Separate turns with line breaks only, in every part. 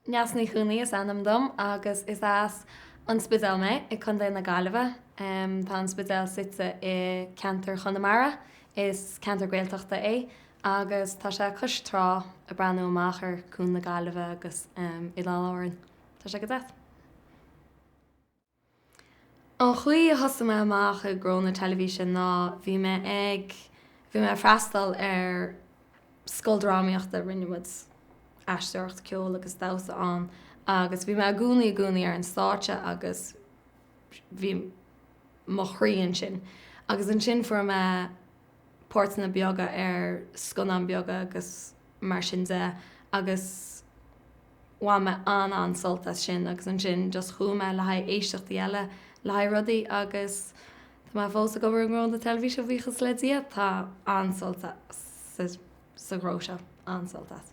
Neasa Ní Chuanaigh is ainm dom agus is as An Spidéal mé i Contae na Gaillimhe. Tá An Spidéal suite i gceantar Chonamara, is ceantar Gaeltachta é agus tá sé cois trá ag breathnú amach ar Cuan na Gaillimhe agus Oileáin Árann. Tá sé go deas. An chaoi a thosaigh mé amach i ngnó na teilifíse ná bhí mé ag, bhí mé ag freastal ar scoil drámaíochta, rinne muid aisteoireacht, ceol agus damhsa ann agus bhí mé i gcónaí, i gcónaí ar an stáitse agus bhí mo chroí ansin. Agus ansin fuair mé. páirteanna beaga ar scannáin beaga agus mar sin de agus bhain mé an-an-sult as sin agus ansin just chuaigh mé le haghaidh éisteachtaí eile le haghaidh rudaí agus tá mé fós ag obair i ngnó na teilifíse buíochas le Dia, tá an-sult sa ghnó seo, an-sult as.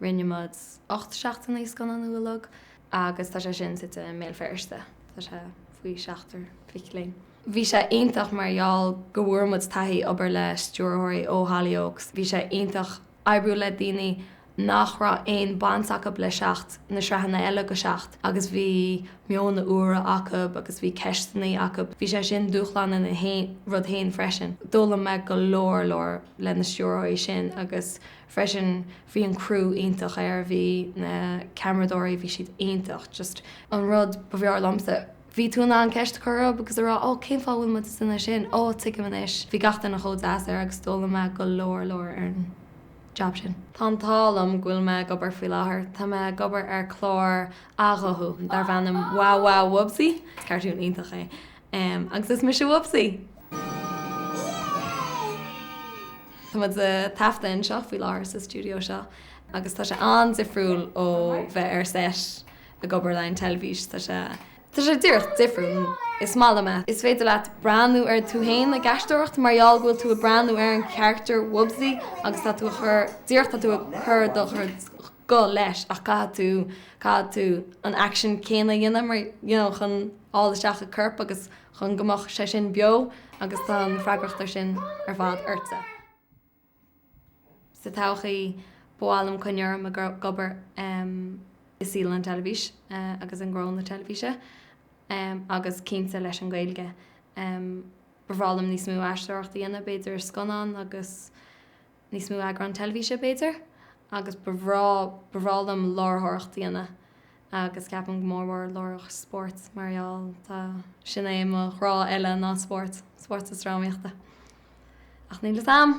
Rinne muid ocht seachtain ag scannánú Seacht agus tá sé sin suite i mBéal Feirste. Tá sé faoi seachtar mac léinn. Bhí sé iontach mar gheall go bhfuair muid taithí obair le stiúrthóirí ó Hollyoaks. Bhí sé iontach oibriú le daoine nach raibh aon baint acub le Seacht, na sraitheanna eile de Seacht agus bhí meonna úra acub agus bhí ceisteannaí acub. Bhí sé sin dúshlánach ina rud féin freisin. D'fhoghlaim mé go leor leor leis na stiúrthóirí sin agus freisin bhí an crew iontach air, bhí na ceamaradóirí, bhí siad iontach just. an rud ab fhearr liomsa, bhí tú in ann ceist a chur orthub agus a rá oh cén fáth a bhfuil muid ag seasamh ansin, oh tuigim anois, bhí gach duine chomh deas air agus d'fhoghlaim mé go leor leor ar an jab sin. Tá an t-ádh liom go bhfuil mé ag obair faoi láthair, tá mé ag obair ar chlár athghuthú darb ainm Wow Wow Wubbzy, cartoon iontach é. Em, agus is mise Wubbzy. Tá muid á thaifeadadh anseo faoi láthair, sa stiúideo seo, agus tá sé an-difriúil ó bheith ar seit ag obair leis an teilifís, tá sé, tá sé díreach difriúil. Is maith liom é. Is féidir leat breathnú ar tú fhéin ag aisteoireacht mar gheall go bhfuil tú ag breathnú ar an character Wubbzy agus tá tú a chur, díreach tá tú ag cur do chuid, guth leis, ach caithfidh tú, caithfidh tú an action céanna a dhéanamh mar, you know, chun fháil isteach a corp agus chun go mbeadh sé sin beo agus tá an freagracht sin ar fad ortsa. Sa todhchaí, ba mhaith liom coinneáil orm ag obair i saol an teilifís agus i ngnó na teilifíse agus cinnte leis an Gaeilge. Ba bhreá liom níos mó aisteoireacht a dhéanamh, b'fhéidir i scannáin agus. níos mó eagrán teilifíse, b'fhéidir, agus ba bhreá, ba bhreá liom láithreoireacht a dhéanamh agus ceapaim go mór mór láithreoireacht spóirt mar gheall, tá, sin é mo ghrá eile ná spórt, spórt is drámaíochta. Ach níl fhios a'm!